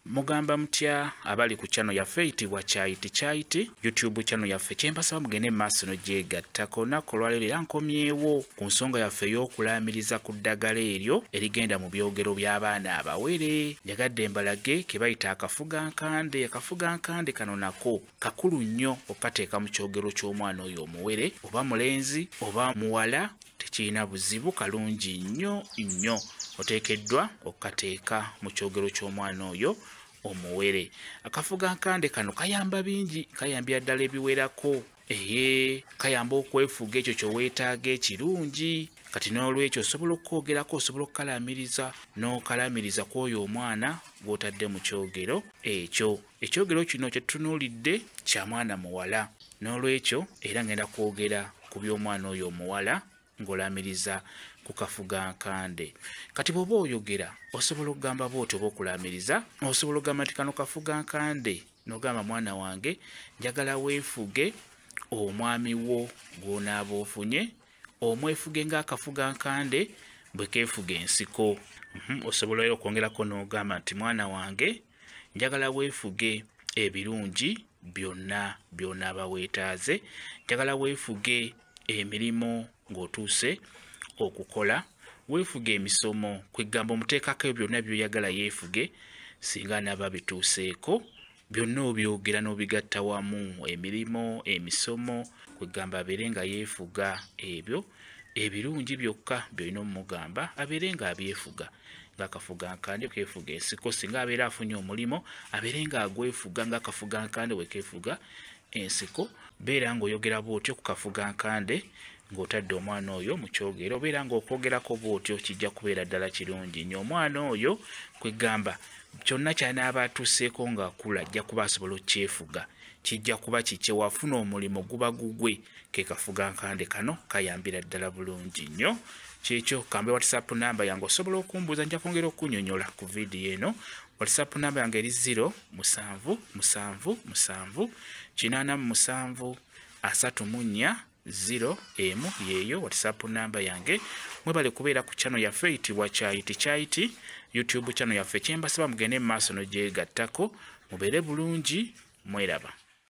mugamba mutya abali ku chano yaffe eyitibwa kyayiti kyayiti youtube chano yaffe kyembasaba mugende mumaaso nogyegattako naku olwaleero era nkomyewo ku nsonga yaffe ey'okulaamiriza ku ddagala eryo erigenda mu byogero by'abaana abawere njagadde mbalage ke bayita akafuga nkande akafuga nkande kano nako kakulu nnyo okukateeka mu kyogero ky'omwana oyo omuwere oba mulenzi oba muwala tekirina buzibu kalungi nnyo nnyo oteekeddwa okukateeka mu kyogero ky'omwana oyo omuwere akafuga nkande kano kayamba bingi kayambira ddala ebiwerako eye kayamba okwefuga ekyo kyoweetaaga ekirungi kati n'olwekyo osobola okukwogerako osobola okukalaamiriza n'okalaamiriza ku oyo omwana gw'otadde mu kyogero ekyo Ekyogero kino kye tutunuulidde kya mwana muwala. N'olwekyo era ngenda kwogera ku by'omwana oyo omuwala ng'olaamiriza ku kafuga nkande. Kati bw'oba oyogera osobola okugamba bw'otyo oba okulaamiriza osobola okugamba nti kano kafuga nkande n'ogamba mwana wange njagala weefuge omwami wo gw'onaaba ofunye omwefuge ng'akafuga nkande bwe keefuga ensiko. Mhm, osobola era okwongerako n'ogamba nti mwana wange njagala weefuge ebirungi byonna by'onaaba weetaaze njagala weefuge emirimu ng'otuuse okukola weefuge emisomo kweggamba omuteekako ebyo byonna byoyagala yeefuge singa anaaba bituuseeko byonna obyogera n'obigatta wamu emirimu emisomo kweggamba abeere nga yeefuga ebyo ebirungi byokka byolina omumugamba abeere nga abyefuga ngaakafuga nkande kefuga ensiko singa abeera afunye omulimu abeere nga agwefuga ngaakafuga nkande wekefuga ensiko beera ngaoyogera bwotyo kukafuga nkande ng'otadde omwana oyo mu kyogero obeera ng'okwogerako bwotyo kijja kubeera ddala kirungi nyo omwana oyo kwegamba kyonna kyanaaba atuuseeko ng'akula ajja kuba asobola okukyefuga kijja kuba kikye wafuna omulimu guba gugwe kekafuga nkande kano kayambira ddala bulungi nnyo kyekyo kambe whatsapp namba yange osobola okumbuuza nja kwongera okunyonyola ku vidiyo eno whatsapp namba yange eri 0 musanvu musanvu musanvu kinaana mu musanvu asatu mu nnya 0 emu yeeyo whatsapp namba yange mwebale kubeera ku chano yaffe eyitibwa kyayiti kyayiti youtube chano yaffe kyembasaba mugende mu maaso nogyegattako mubeere bulungi mweraba